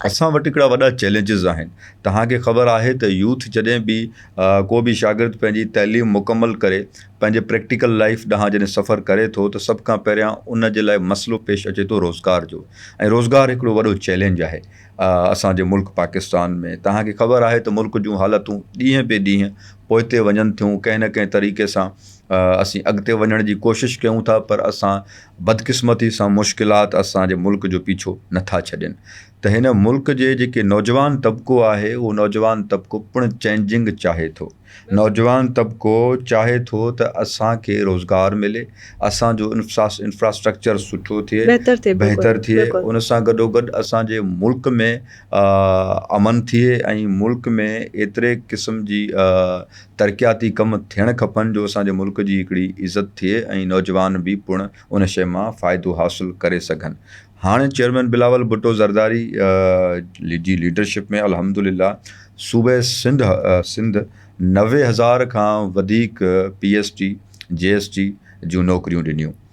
اسان وٽ هڪڙا وڏا چئلينجز آهن توهان کي خبر آهي ته يوٿ جڏهن به ڪو به شاگرد پنهنجي تعليم مڪمل ڪري پنهنجي پريڪٽيڪل لائيف ڏانهن جڏهن سفر ڪري ٿو ته سڀ کان پهريان ان جي لاء مسئلو پيش اچي ٿو روزگار جو ۽ روزگار هڪڙو وڏو چئلينج آهي اسان جي ملڪ پاڪستان ۾ توهان کي خبر آهي ته ملڪ جون حالتون ڏينهن پي ڏينهن پوئتي وڃن ٿيون ڪنهن نه ڪنهن طريقي سان اسين اڳتي وڃڻ جي ڪوشش ڪيون ٿا پر اسان بدقسمتي سان مشڪلات اسان جي ملڪ جو پيڇو نه ٿا ڇڏين ته هن ملڪ جي جيڪي نوجوان طبقو آهي اهو نوجوان طبقو پڻ چينجنگ چاهي ٿو نوجوان طبقو چاهي ٿو ته اسان کي روزگار ملي اسان جو انفراسٽرڪچر سٺو ٿئي بهتر ٿئي ان سان گڏوگڏ اسان جي ملڪ ۾ امن ٿئي ۽ ملڪ ۾ ايتري قسم جي ترقياتي ڪم ٿيڻ کپن جو اسان جي ملڪ جي هڪڙي عزت ٿئي ۽ نوجوان به پڻ ان شيء مان فائدو حاصل ڪري سگهن هاڻ چيئرمين بلاول ڀٽو زرداري جي ليڊرشپ ۾ الحمدلله صوبي سنڌ نوي هزار کان وڌيڪ P S T, G S T جون نوڪريون ڏنيون.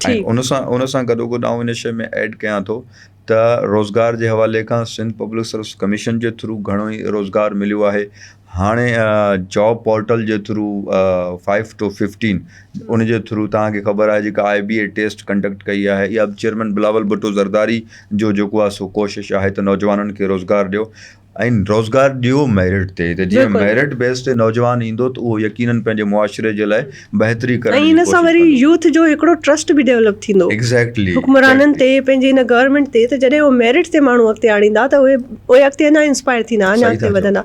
ٺيڪ. ان سان ان سان گڏوگڏ آئون ان شيء ۾ ايڊ ڪيان ٿو ته روزگار جي حوالي کان سنڌ پبلڪ سروس ڪميشن جي ٿرو گهڻو ئي روزگار مليو آهي هاڻي جاب پورٽل جي ٿرو فائيو ٽو ففٽين ان جي ٿرو توهان کي خبر آهي جيڪا I B A test conduct ڪئي آهي اها چيئرمين بلاول ڀٽو زرداري جو جيڪو آهي سو ڪوشش آهي ته نوجوانن کي روزگار ڏيو ۽ روزگار ڏيو ميرٽ تي ته جيئن ميرٽ بيس تي نوجوان ايندو ته اهو يقينن پنهنجي معاشري جي لاء بهتري ڪرڻ جي ڪوشش ڪندو. ۽ ان سان وري يوٿ جو هڪڙو ٽرسٽ به ڊيولپ ٿيندو حڪمرانن تي پنهنجي ان گورنمينٽ تي ته جڏهن اهو ميرٽ تي ماڻهو اڳتي آڻيندا ته اهي اهي اڳتي اڃا انسپائر ٿيندا اڃا اڳتي وڌندا.